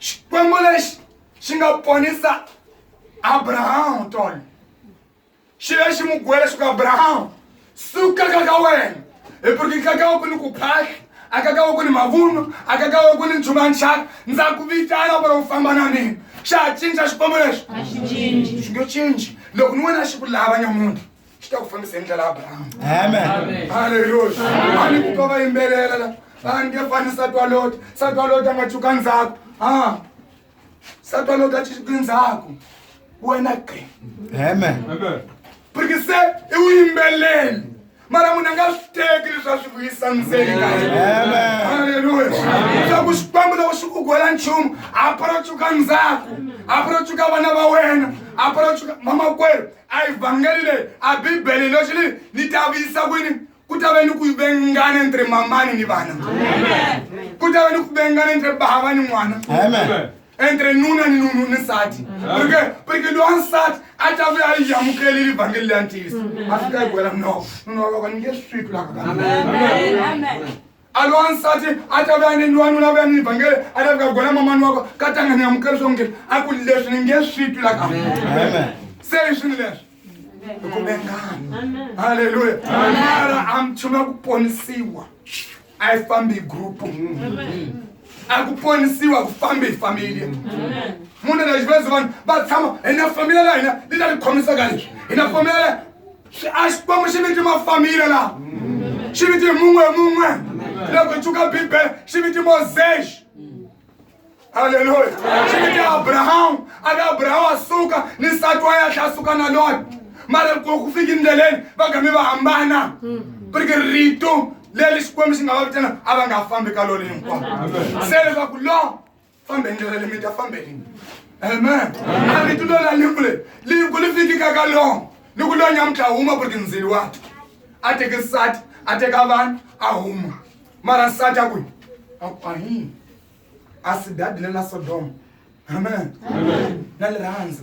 xikwembu lexi xi nga ponisa abrahamu tolo xi ve xi n'wi kuwe leswaku abrahamu suka ka ka wena hi puriki ka ka wa ku ni ku phahla a ka ka wa ku ni mavuno a ka ka wa ku ni nchumu ya nxaka ndza ku vitana ku ri u famba na mina xa ha cinca xikwembu lexi xi nge cinci loko ni wena xi ku lava nyamuntlha xi ta ku fambisa hi ndlela ya abrahamu halleluya a ni kutwa va yimbelela la a ni nge fani satwa loti satwa loti a nga chuka ndzhaku a satwa loti a chuki ndzhaku wena qe porque se i wu yimbeleli mara munhu a nga swi teki leswi a swi vuyisa ndzeni ka halleluya leswaku xikwembu loko xi ku gwela nchumu a porocuka ndzhaku a porocuka vana va wena a porocuka mamakwerhu a evhangeli leyi a bibele leswi ni ni ta vuyisa kwini ku ta va ni ku vengana entre mamani ni vana ku ta va ni ku vengana entre bava ni n'wana entre nuna ni nunu ni nsati porque porque lowa nsati a ta vuya yi yamukeli livhangeli leya ntiyiso a fika yi gwela mnoko nuna wa vaka ni nge swi twi laka ka alo wansati a ta va ni nwanuna va ni vhangele a ta fika gola mamani wa ko ka tanga ni amukela leswaku ngeni a ku leswi ni nge swi twi la ka se hi swini leswi hi ku vengana halleluya mara a nchumu ya ku ponisiwa a yi fambi hi grupu a ku ponisiwa ku fambi hi familia munhu na xivezo vanhu va tshama hi na familia la hina li ta ni khomisaka leswi hi na familia la Xi- a xikwembu xi viti mafamile laha xi viti mun'we mun'we loko hi tshuka bibele xi viti mosexi halleluya xi viti abrahamu a ka abrahamu a suka ni nsati wa yahle a suka na lona mara loko ku fika endleleni va gami va hambana prike rito leri xikwembu xi nga va vitana a va nga fambi ka lona hinkwavo se leswaku lo fambeni ndlela le mi ta fambeni amen a mi tulo la liku le liku li fikika ka long ni ku lonya mutla huma ku ri tindzili wati a teke nsati a teka vanhu a huma mara nsati a kwi akwahini a si dadile na sodoma amen na lirhandza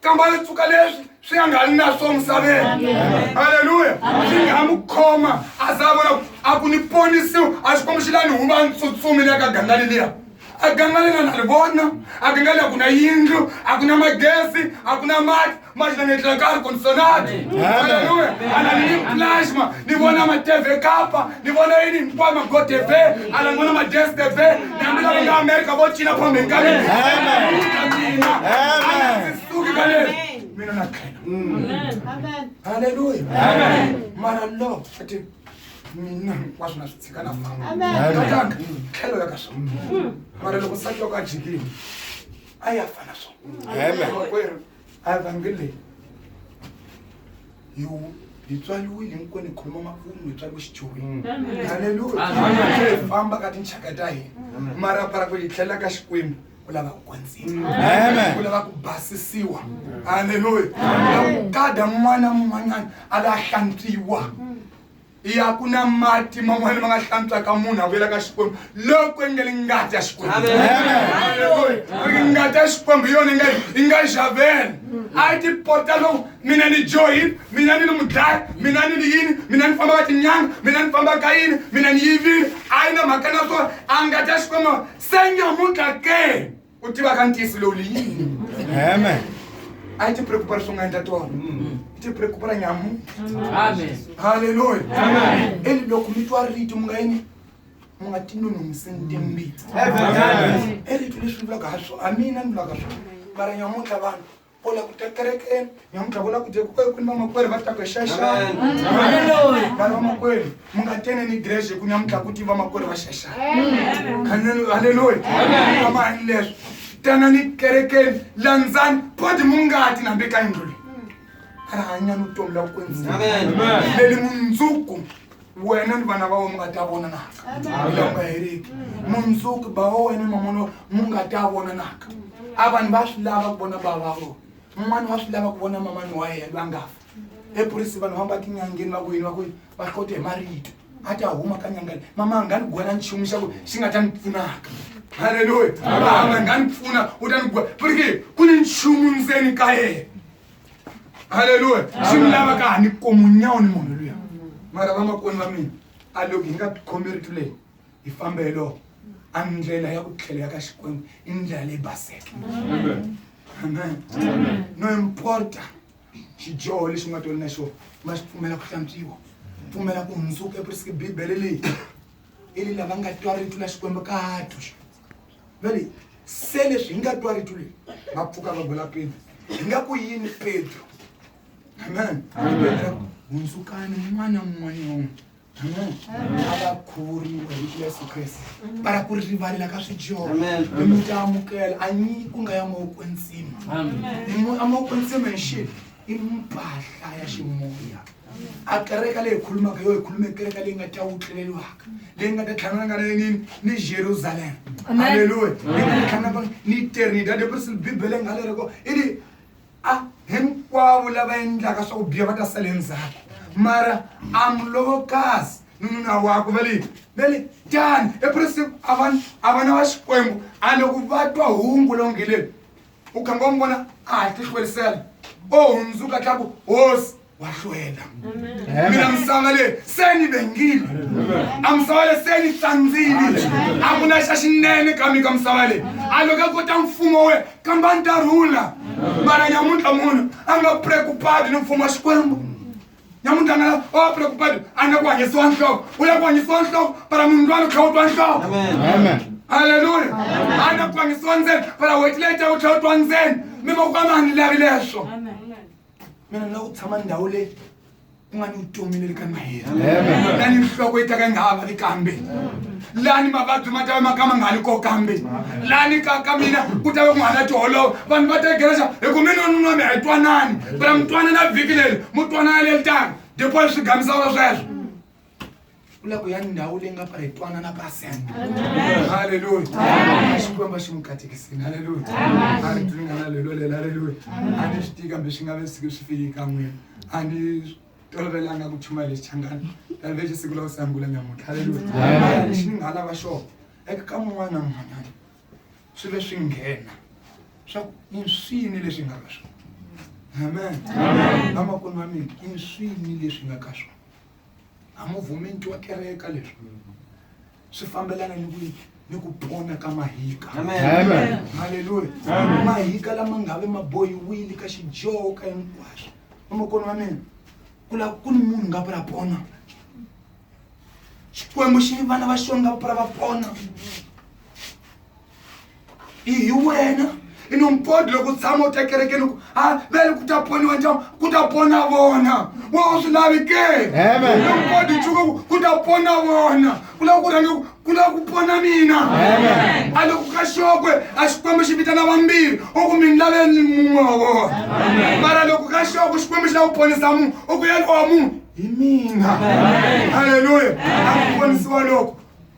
kamba ri pfuka leswi swi nga ngani na swo misaveni halleluya swi nga n'wi khoma a za a vona ku a ku ni ponisiwa a swi kombi xi lani huma a ni tsutsumi le ka gangani liya a gangani na na ri vona a gangani a ku na yindlu a ku na magezi a ku na mati mati na ngetlela ka ri kondisonati halleluya a na ni ni plasma ni vona mateve kapa ni vona yini hinkwama go tv ala n'wana madres tv nami lava nga amerika vo cina phambi ka mina suki ka leswi mina na khena halleluya mara lo ati mina hinkwaswo na swi tshika na famba tlhelo ya ka swona mara loko nsati wa ka jikini a ya fana swona A Vhangele hi hi tswariwile hinkwenu hi khoma makumu hi tswariwe xichomi mm. haleluya famba ka tinxaka ta hina mara para ku hi tlhelela ka xikwembu u lava ku kwandzima u lava ku basisiwa haleluya u lava ku kada n'wana mun'wanyana a la hlantswiwa ya ku na mati man'wana ma nga hlantswaka munhu a vuyela ka xikwembu loko yi nga li ngati ya xikwembu ngati ya xikwembu yona yi nga yi nga xavela a yi tipota loko mina ni joyini mina ni ni mudlaya mina ni ni yini mina ni famba ka tinyanga mina ni famba ka yini mina ni yivile a yi na mhaka na swona a ngati ya xikwembu se nyamutlha ke ku tiva ka ntiyiso lowu li yini amen a yi tipreocupa ri swi nga endla tona mm. yi tipreocupa ra nyamu halleluya eli loko mi twa rito mi nga yini mi nga tinonongiseni timbitsa e rito leswi vulaka ha swo a mina ni vulaka swo mara nyamuntlha vanhu Bola ku kekerekeni nyamutlha vona ku dye ku kwini vamakwerhu va ta ku xaxana vanhu vamakwerhu mi nga tene ni grece ku nyamutlha ku ti vamakwerhu va xaxana halleluya amani leswi tana ni kerekeni landzani poti mu ngati nambe ka yindlu leyi a ri hanyani vutomi la ku kwenzile leli mundzuku wena ni vana va wena mi nga ta vonanaka u nga heriki mundzuku ba wa wena mamono mu nga ta vonanaka a vanhu va swi lava ku vona bava vona un'wana wa swi lava ku vona mamani wa yena va nga fa epurisi vanhu vamba tinyangeni va ku yini va ku va hlota hi marito a ta huma ka nyangani mama nga ni gwela nchumu xa ku xi nga ta ni pfunaka halleluya mama nga ni pfuna u ta ni gwela purike ku ni nchumu ndzeni ka yena halleluya swi mi lavaka ha ni komu nyawu ni munhu luya mara vamakoni va mina a loko hi nga tikhomeritu leyi hi fambelo a ndlela ya ku tlhela ya ka xikwembu i ndlela leyi baseke amen no importa xidyoho lexi u nga toli na xona ma xi pfumela ku hlantswiwa pfumela ku hundzuka epriski bibele leyi i lava nga twa rito la xikwembu ka twa nale se leswi hi nga twa rito leri va pfuka va bula pedro hi nga ku yini pedro amen hundzukani n'wana n'wan'wana amen a va khuvuriwa hi yesu kreste para ku rivalela ka swijoho mi mi ta amukela a nyi ku nga ya mavoko ntsima amavoko ntsima hi xi i mpahla ya ximoya a kereka leyi khulumaka yo hi khulume kereka leyi nga ta wutleleliwaka leyi nga ta tlhanganaka na yini ni jerusalem halleluya leyi nga ta tlhanganaka ni eternita depression bibele nga leri ko i ri a hinkwavo lava endlaka swa ku biya va ta sale ndzhaku mara amulowokasi ni nuna wakwe va leyi va le tani epresi a va a va na va xikwembu a loko va twa hungu longeleni u khanga wa n'wi vona a ha tihlwerisela o hundzuka tlaku hosi wa hlwela mina misava leyi se ni vengile a misava leyi se ni hlandzile a ku na xa xinene ka mi ka misava leyi a loko a kota mfumo we kambani ta rhula mara nyamuntlha munhu a nga preocupadi ni mfumo wa xikwembu nyamuntlha nga o preoccupied a na ku hanyisiwa nhloko u lava ku hanyisiwa nhloko para munhu lwani u tlhela u twa nhloko halleluya a na ku hanyisiwa ndzeni para wetileta u tlhela u twa ndzeni mi vakwama a ni lavi leswo mina ni lava ku tshama ndhawu leyi ku nga ni vutomi leri ka maheri na ni nhloko yi taka yi nga ha vavi kambe lani mavabyi ma tava maka ma nga ni ko kambe lani ka ka mina ku tava ku nga na tiholova vanhu va tegerexa hi ku mina nunwa mi hi twanani bra mi twanana vhiki leri mu twanana le litanga dipoli swi gamisaka sweswo u la ku ya ndhawu leyi nga pfa hi twanana pasenta halleluya xikwemba xi n'wi katekisini halleluya a ri tlingana lelo lela halleluya a ni swi tii kambe swi nga ve sike swi fiki ka n'wina a ni tolovelanga ku chumayela lexi changani kambe lexi siku la ku sangula nyamuntlha haleluya lexi ni nga lava xona eka ka mun'wana na mun'wanyana swi ve swi nghena swa ku i swini leswi nga ka swona amen vamakulu va mina i swini leswi nga ka swona a mu vhumi ntiwa kereka leswi swi fambelana ni ku ni ku pona ka mahika haleluya mahika lama nga ve ma bohiwile ka xidyoho ka hinkwaswo vamakoni wa mina ku lava ku ni munhu nga pura pona xikwembu xi vana va xona nga pura va pona i hi wena i no mpodi loko tshama u tekerekeni ku a va ri ku ta poniwa njhani ku ta pona vona wa u swi lavi ke no mpodi chuka ku ku ta pona vona ku lava ku rhange ku lava ku pona mina a loko ka xokwe a xikwembu xi vitana vambirhi u ku mi ni laveni mun'we wa vona mara loko ka xokwe xikwembu xi lava ku ponisa munhu u ku yeni wa munhu hi mina halleluya a ku ponisiwa loko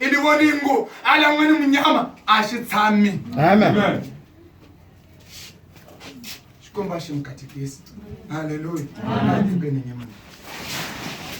ini voningu ala n'wini munyama a xi tshami xikomba xi mukatekisi halleluya